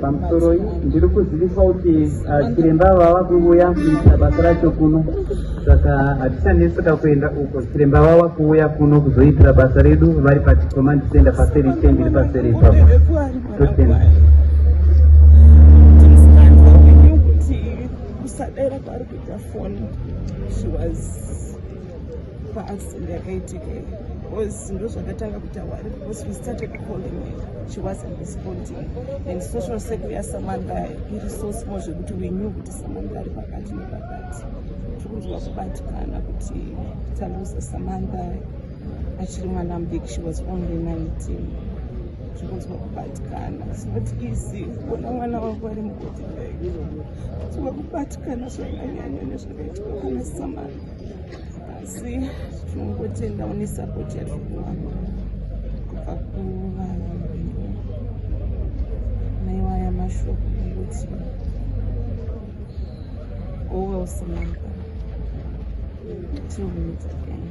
pamusoroi ndiri kuziviswa kuti uh, chiremba ava vava kuuya kuita basa racho kuno saka hatichaneseka kuenda uko chiremba vava kuuya kuno kuzoitira basa redu vari paticommand center paseri chendi ri paseri ipapo totenda kusadera kwari kuita foni she was paaccident yakaitika iyi because ndozvakatanga kutaura because we started calling her she wasn't responding and social circle yasamanga iri so small zvekuti we knew kuti samanga ari pakati nepakati tiri kunzwa kubatikana kuti taluza samanga achiri mwana mudiki she was only 19 zvikunzwa kubatikana not easy kuona mwana wako ari mukoti kunzwa kubatikana zvakanyanya nezvakaitwa kana samanga asi tinongotendawo nesapoti yatiri kuwana kubva kuvanhu naiwaya mashoko nekuti owelsomanka tinohumidza kani